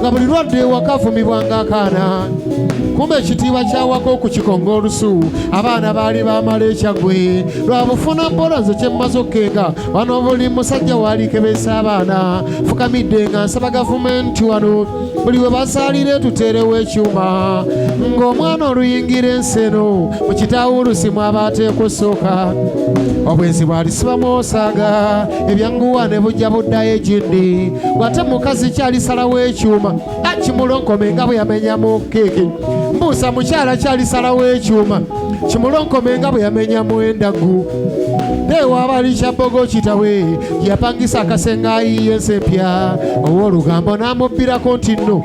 nga buli lwadde ewaka avumibwanga akaana kumba ekitiibwa kyawaka okukikonga olusu abaana baali bamala ekyagwe lwabufuna mpola nze kyemmaze okkenga wano buli musajja waalikebesa abaana fukamidde nga nsaba gavumenti wano buli we basaalira etuteerewo ekyuma ng'omwana oluyingira ensi eno mu kitaawo olusimu aba ateekwa osooka obwenzi bwalisibamu osaaga ebyanguwa ne bujja buddayo ekindi ng'ate mukazi kyalisalawo ekyuma akimulonkome nga bwe yamenyamu keeke mbuusa mukyala kyalisalawo ekyuma kimulonkome nga bwe yamenyamu endagu newaabali kyabbogo kitawe yapangisa akasenga ayiye ensi empya ow'olugambo n'amubbirako nti nno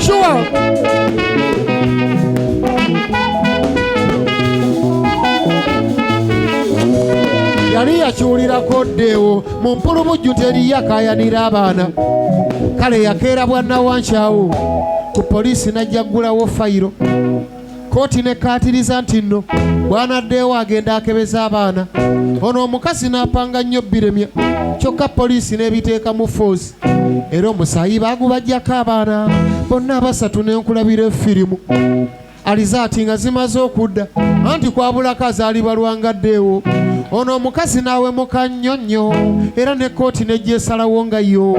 Sure. yali yakiwulirako ddeewo mu mpulubujju teri yakayanira abaana kale yakeera bwannawankyawo ku poliisi n'ajja ggulawo fayiro kkooti nekkaatiriza nti nno bwanaddeewo agenda akebeza abaana ono omukazi n'apanga nnyo biremya kyokka poliisi n'ebiteeka mu foozi era omusaayi baagubajjako abaana bonna abasatu n'enkulabira efirimu alizaati nga zimaze okudda anti kwabulako azaalibwa lwangaddeewo ono omukazi n'awemuka nnyo nnyo era ne kkooti nejja esalawo nga yo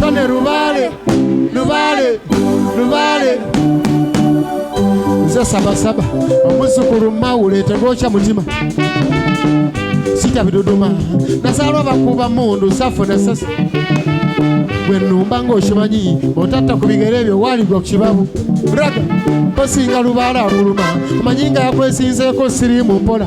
Tone Rubale, Rubale, Rubale. Nze saba saba omuzukulu mawule tegokya mutima sitya biduduma nasalwa bakuba mundu safuna sasa gwe numba ng'okimanyi otatta ku bigere ebyo waaligwa ku kibabu braga osinga lubaala akuluma omanyi nga yakwesinzeeko sirimu mpola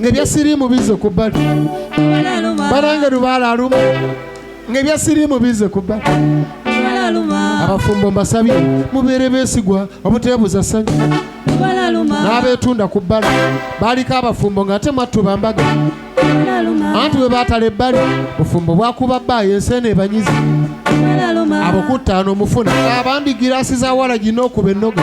ng'ebya siriimu bize ku bbali banange lubaala aluma ng'ebya siriimu bize ku bbali abafumbo mbasabye mubeere beesigwa obuteebuza ssanyu n'abeetunda ku bbala baaliko abafumbo nga ate mwattu bambaga anti bwe baatala ebbali bufumbo bwakuba bbaayo ensi eno ebanyizi abo kuttaano omufuna abandi giraasi za wala gina okuba ennoga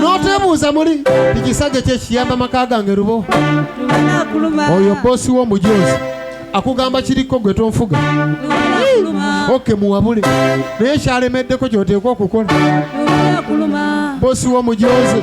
n'otebuuza muli ekisajja ekyo ekiyamba maka gange lubo oyo boosi w'omujoozi akugamba kiriko gwe tonfuga oke muwabule naye kyalemeddeko kyoteekwa okukola boosi w'omujoozi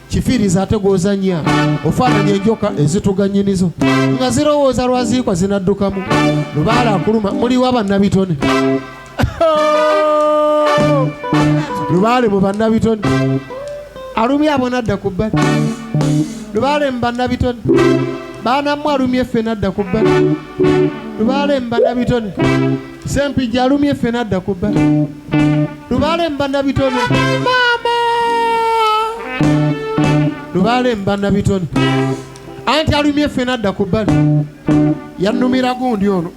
kifiriza ate gwozanya ofaananya enjoka ezituganyinizo nga zirowooza lwaziikwa zinaddukamu lubaala akuluma muliwo abannabitone lubaale mu bannabitone alumye abo nadda ku bbali lubaale mu bannabitone baanamu alumye ffe nadda ku bbali lubaale mu bannabitone Sempijja alumye ffe n'adda ku bba lubaale mu bannabitone maama lubaale mu bannabitone anti alumye ffe n'adda ku bbali yannumira gundi ono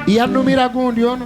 yannumira gundi ono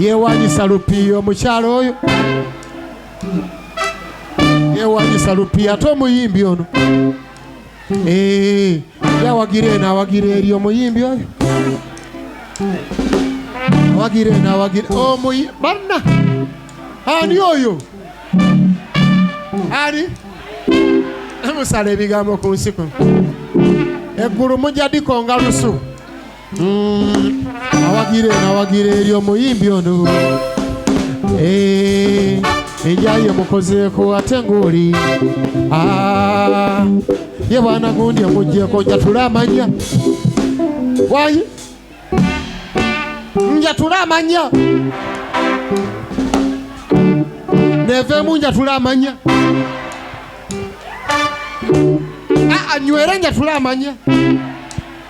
yewanyisa lupiiya omukyalo oyo yewanyisa lupiiya ate omuyimbi ono eh, yawagira eno awagira eri omuyimbi oyo awagira eno awagira omuyi banna ani oyo ani musala ebigambo ku nsi kuno eggulu mujja dikonga lusu Mm, awagire nawagire eri omuyimbi ono eh, enjayi omukozeeko ate ng'oli ah, ye bwana gundi omugyeko njatule amanya wayi njatule amanya neveemu njatule amanya anywere ah, ah, njatule amanya